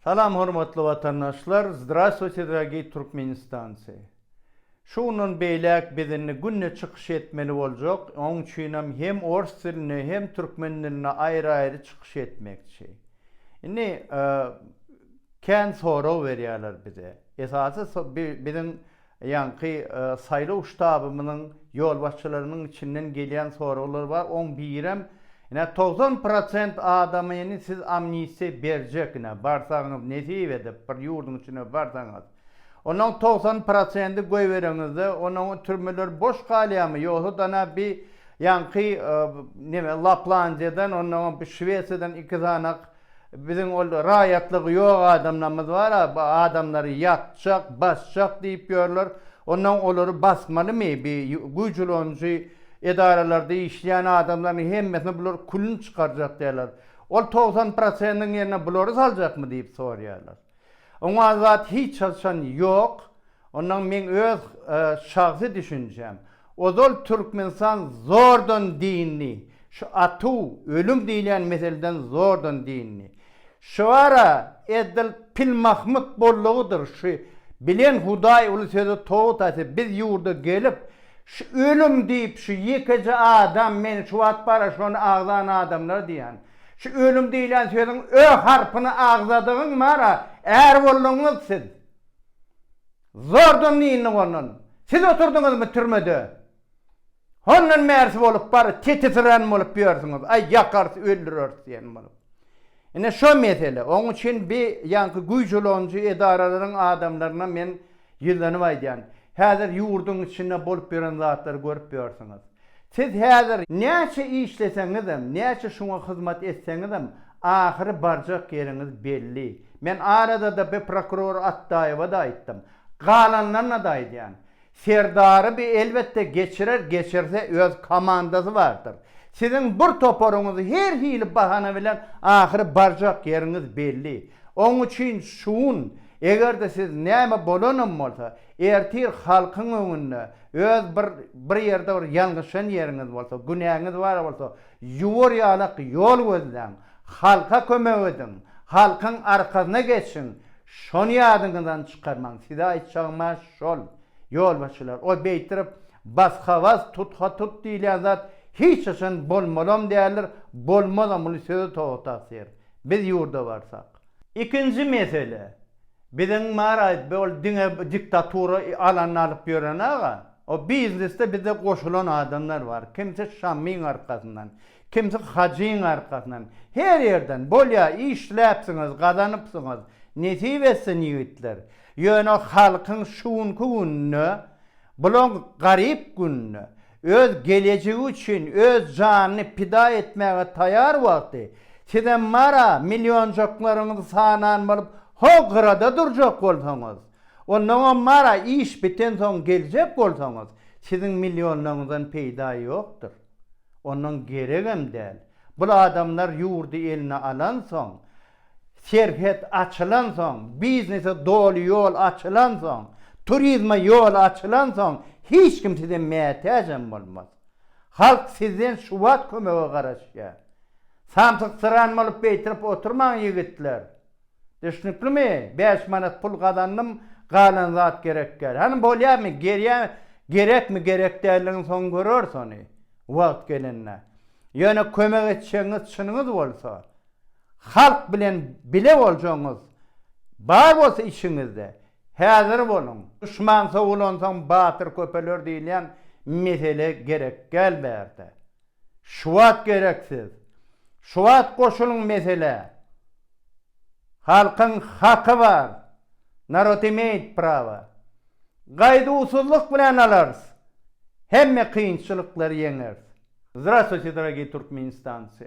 Salam hormatly watandaşlar Zdrastwuyte dragi Turkmenistanci Şu gündan beýläk biz indi günde çykyş etmeli boljak oň üçinem hem ors dilinde hem türkmen dilinde aýry aýry çykyş etmekçi indi kän sorag berýäler bize esasy biziň Ýaňky saýlaw ştabymyzyň ýolbaşçylarynyň içinden gelýän soraglar bar, oň birem, ine togsan prosent adama indi siz amnistiýa berjek ine barsaňyz nesip edip bir ýurduň içine barsaňyz. Onuň togsan prosendi goýbereňizde onuň türmeler boş galýamy ýogsa dana bi ýaňky neme Laplandiýadan onnoňam bi Şwesiýadan iki sanak Biziň ol raýatlygy ýok adamlarymyz bar-a, bu adamlary ýakjak, basjak diýip ýörler. Onda olary basmalymy? Bi güýç ulanyjy edaralarda işleýän adamlaryň hemmesine bular külüni çykarjak diýerler. Ol togsan prosentiň ýerine bulary saljakmy diýip soraýarlar. Oňa zat hiç haçan ýok. Ondan meň öz şahsy düşünjem. Ozal Türkmenistan zordan dyndy. Şu atuw, ölüm diýilýän meseleden zordan dyndy. Şuara edil Pilmahmut bollugydyr şu bilen Hudaý uly söze towut aýtsa biz ýurda gelip şu ölüm diýip şu ýekeje adam men şu wagt bara şony agzan adamlar diýýän. Şu ölüm diýlen sözüň ö harpyny agzadygyň bar-a, är bolduňyz siz. Zordan dyndyk ondan. Siz oturdyňyzmy türmede? Hondan bärsi bolup bar, tetisirän bolup ýörsüňiz, aý ýakarys, öldüreris diýen bolup. Ine şo mesele. Oň üçin bi ýaňky güýç ulanyjy edaralaryň adamlaryna men ýüzlenip aýdýan. Häzir ýurduň içinde bolup ýören zatlary görüp ýörsüňiz. Siz häzir näçe işleseňizem, näçe şuňa hyzmat etseňizem, ahyry barjak ýeriňiz belli. Men arada-da bi prokuror Atdaýewa-da aýtdym. Galanlaryna-da aýdýan. Serdary bi elbetde geçirer, geçirse öz komandasy bardyr. Siziň bir toparyňyz her hili bahana bilen ahyry barjak ýeriňiz belli. Oň üçin şugun, eger-de siz näme bolanam bolsa, Ertir halkyň öňünde öz bir bir ýerde bir ýalňyşan ýeriňiz bolsa, günäňiz bar bolsa, ýuwar ýalak ýol gözläň, halka kömek ediň, halkyň arkasyna geçiň, şony ýadyňyzdan çykarmaň. Size aýtjagym-a şol, ýolbaşçylar, o beýtirip basga-bas, tutga-tut diýilýän zat hiç haçan bolmalam däldir, bolmazam, muny sözi Toga tagsyr. Biz ýurda barsak. Ikinji mesele, biziň Maraýew be ol diňe diktatura alanyny alyp ýören aga, o biznesde bize goşulan adamlar bar, kimsi Şamyň arkasyndan, kimsi Hajyň arkasyndan, her ýerden, bolýa işläpsiňiz, gazanypsyňyz, nesip etsin ýigitler, ýöne halkyň şu günki gününe, bulaň garyp gününe, Öz gelejegi üçin öz janyny pida etmäge taýar wagty, sizem mara millionjaklaryňyzy sanan bolup ho gyrada durjak bolsaňyz, onnoňam mara iş bitensoň geljek bolsaňyz, siziň millionlaryňyzdan peýda ýokdur. Onnoň geregem däl. Bul adamlar ýurdy eline alansoň, Serhet açylansoň, biznese doly ýol açylansoň, turizme ýol açylansoň hiç kim size mätäjem bolmaz. Halk sizden şuwagt kömege garaşýar. Samsyksyran bolup beýtirip oturmaň ýigitler. Düşnüklimi? Bäş manat pul gazandym, galan zat gerek däl. Hany bolýamy, gerýämi, gerekmi, gerek däldigini soň göreris ony, wagt gelende. Ýöne kömek etjegiňiz çynyňyz bolsa, Halk bilen bile boljagyňyz bar bolsa içiňizde, häzir boluň. Duşman sowulansoň batyr köpeler diýilýän mesele gerek däl bärde. Şuwagt gerek siz. Şuwagt goşulyň meselä. Halkyň haky bar. Narod imeýit prawa. Gaýduwsyzlyk bilen alarys. Hemme kynçylyklary ýeňeris. Zdrastwuyte, dragii Turkmenistanci!